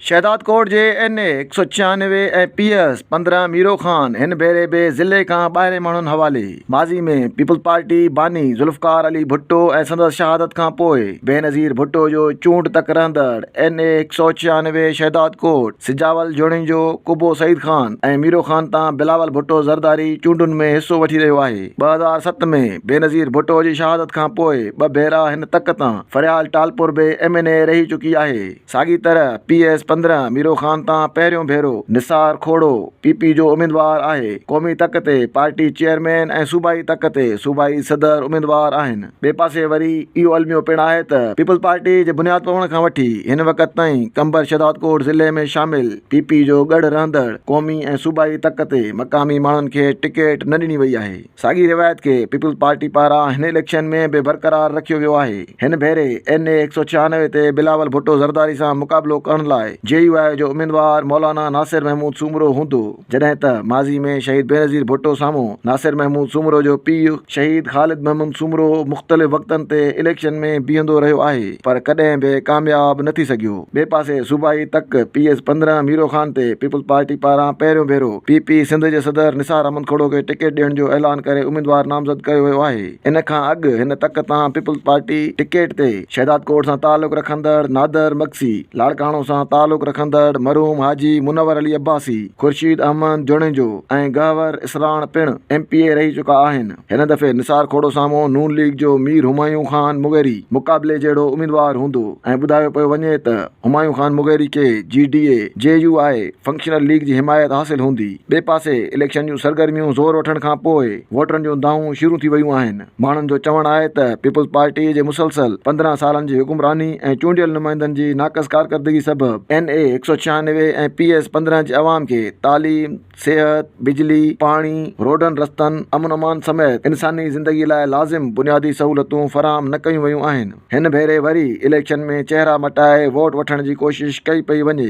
شهدادڪوٽ جي N A هڪ سؤ ڇيانوي ۽ پي ايس پندرهن ميرو خان هن ڀيري به ضلعي کان ٻاهرين ماڻهن حوالي. ماضي ۾ پيپلز پارٽي باني ذوالفقار علي ڀٽو ۽ سندس شهادت کان پوء بينظير ڀٽو جو چونڊ تڪ رهندڙ اين اي هڪ سؤ ڇيانوي شهدادڪوٽ سجاول جوڻيجو قبو سعيد خان ۽ ميرو خان تان بلاول ڀٽو زرداري چونڊن ۾ حصو وٺي رهيو آهي. ٻه هزار ست ۾ بينظير ڀٽو جي شهادت کان پوء ٻه ڀيرا هن تڪ تان فريال ٽالپر به ايم اين اي رهي چڪي آهي. ساڳي طرح پي ايس پندرهن ميرو خان تان پهريون ڀيرو نثار کوڙو پي پي جو اميدوار آهي، قومي تڪ تي پارٽي چيئرمين ۽ صوبائي تڪ تي صوبائي صدر اميدوار آهن، ٻئي پاسي وري اهو الميو پڻ آهي ته پيپلزپارٽي جي بنياد پوڻ کان وٺي هن وقت تائين قمبر شهدادڪوٽ ضلعي ۾ شامل پي پي جو ڳڙهه رهندڙ قومي ۽ صوبائي تڪ تي مقامي ماڻهن کي ٽڪيٽ نه ڏني وئي آهي. ساڳي روايت کي پيپلز پارٽي پاران هن اليڪشن ۾ به برقرار رکيو ويو آهي. هن ڀيري اين اي هڪ سؤ ڇهانوي تي بلاول ڀٽو زرداري سان مقابلو ڪرڻ لاء جي يو آء جو اميدوار مولانا ناصر محمود سومرو هوندو جڏهن ته ماضي ۾ شهيد بينظير ڀٽو سامهون ناصر محمود سومرو جو پيء شهيد خالد محمد سومرو مختلف وقتن تي اليڪشن ۾ بيهندو رهيو آهي پر ڪڏهن به ڪامياب نه ٿي سگهيو. ٻئي پاسي صوبائي تڪ پي ايس پندرهن ميرو خان تي پيپلز پارٽي پاران پهريون ڀيرو پي پي سنڌ جي صدر نثار احمد کهڙو کي ٽڪيٽ ڏيڻ جو اعلان ڪري اميدوار نامزد ڪيو ويو آهي ان کان اڳ هن تڪ تان پيپلز پارٽي ٽڪيٽ تي شهدادڪوٽ سان تعلق رکندڙ نادر مگسي، لاڙڪاڻو سان تعلق رکندڙ مرحوم حاجي منور علي عباسي، خورشيد احمد جوڻيجو ۽ گهور اسراڻ پڻ ايم پي اي رهي چڪا آهن. هن دفعي نثار کوڙو سامهون نون ليگ جو مير همايون خان مغيري مقابلي جهڙو اميدوار هوندو ۽ ٻڌايو پيو وڃي ته همايون خان مغيري کي G D A, J U I, functional league جي حمايت حاصل هوندي. ٻئي پاسي اليڪشن جون سرگرميون زور وٺڻ کان پوء ووٽرن جون دانهون شروع ٿي ويون آهن. ماڻهن جو چوڻ آهي ته پيپلز پارٽي جي مسلسل پندرهن سالن جي حڪمراني ۽ چونڊيل نمائندن جي ناقص ڪارڪردگي سبب اين اي هڪ سؤ ڇيانوي ۽ پي ايس پندرهن جي عوام کي تعليم، صحت، بجلي، پاڻي، روڊن رستن، امن امان سميت انساني زندگي لاء لازم بنيادي سهولتون فراهم نه ڪيون ويون آهن، هن ڀيري وري اليڪشن ۾ چهرا مٽائي ووٽ وٺڻ جي ڪوشش ڪئي پئي وڃي.